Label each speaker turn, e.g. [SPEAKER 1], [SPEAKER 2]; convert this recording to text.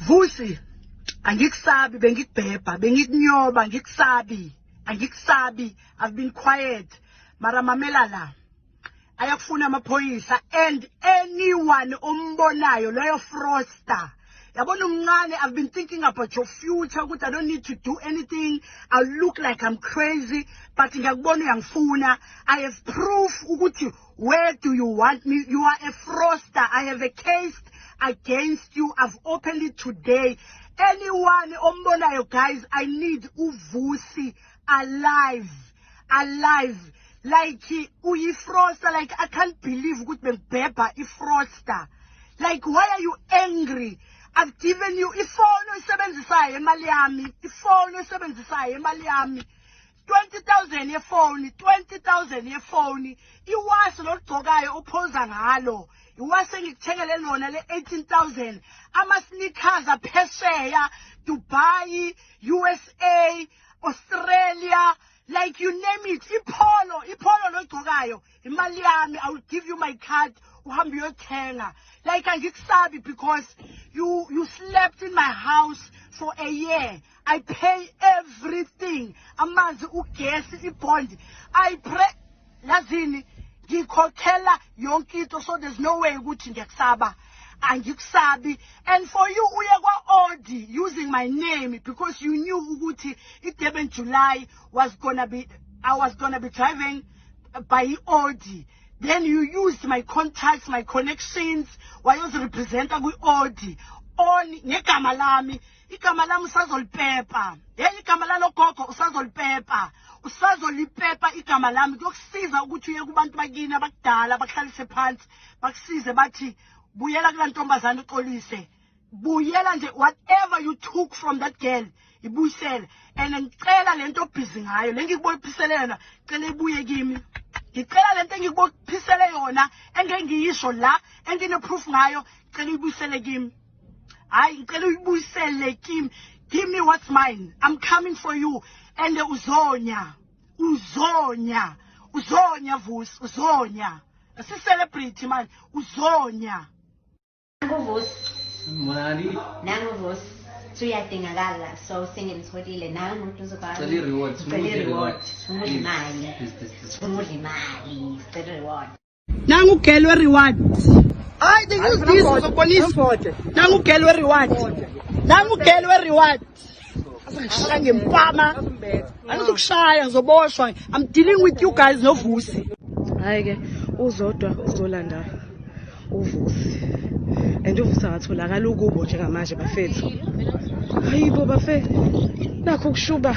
[SPEAKER 1] Vusi angikusabi bengikubhebha bengikunyoba ngikusabi angikusabi i've been quiet mara mamela la ayakufuna amaphoyisa and anyone ombonayo loyo froster yabona umncane i've been thinking about your future ukuthi i don't need to do anything i look like i'm crazy but ngiyakubona uyangifuna i have proof ukuthi Where do you want me? You are a froster. I have a case against you. I've opened it today. Anyone ombonayo guys, I need uvusi alive. Alive. Like uyi froster like I can't believe ukuthi bengibhebha i froster. Like why are you angry? I've given you ifoni oyisebenzisayo imali yami. Ifoni oyisebenzisayo imali yami. 20,000 yefoni 20,000 yefoni iwasi lolugcokayo uphoza ngalo iwasi engikuthengele lona le 18000 ama sneakers aphesheya Dubai USA Australia like you name it ipholo ipholo logcokayo imali yami i will give you my card uhambe uyothenga like angikusabi because you you slept in my house for a year I pay everything amanzi ugesi ibond I pray lazini ngikhokhela yonke into so there's no way ukuthi ngiyakusaba angikusabi and for you uye kwa-odi using my name because you knew ukuthi i-durban july was gonna be i was gonna be driving by i-odi then you used my contacts my connections wayozirepresenta kwi-odi on ngegama lami igama lami usazolipepa yeyi igama lalogogo usazolipepa usazolipepa igama lami kuyokusiza ukuthi uye kubantu bakini abakudala bakuhlalise phansi bakusize bathi buyela kula ntombazane uxolise buyela nje whatever you took from that girl ibuyisele and ngicela le nto obhizi ngayo le ngikubophisele yona cela ibuye kimi ngicela le nto engikubophisele yona engengiyisho la engineproof ngayo cela uyibuyisele kimi hayi ngicela uyibuyisele kimi give me what's mine i'm coming for you and uzonya uzonya uzonya vusi uzonya sicelebrity manje uzonya nanguvusi
[SPEAKER 2] mali nanguvusi suyadingakala so sengimtholile nangu mduze kwamicela i-reward sifuna udla
[SPEAKER 3] imali
[SPEAKER 2] sifuna udla imali sicela i-reward Nangu girl
[SPEAKER 1] we reward. Ay, they use this for the police. Nangu girl we reward. Nangu girl we reward. Asangishaya ngempama. Angizokushaya ngizoboshwa. I'm dealing with you guys no vusi. Hayi ke
[SPEAKER 4] uzodwa uzolanda uvusi. And uvusi akatholakala ukubo njengamanje bafethu. Hayibo bafethu. Nakho kushuba.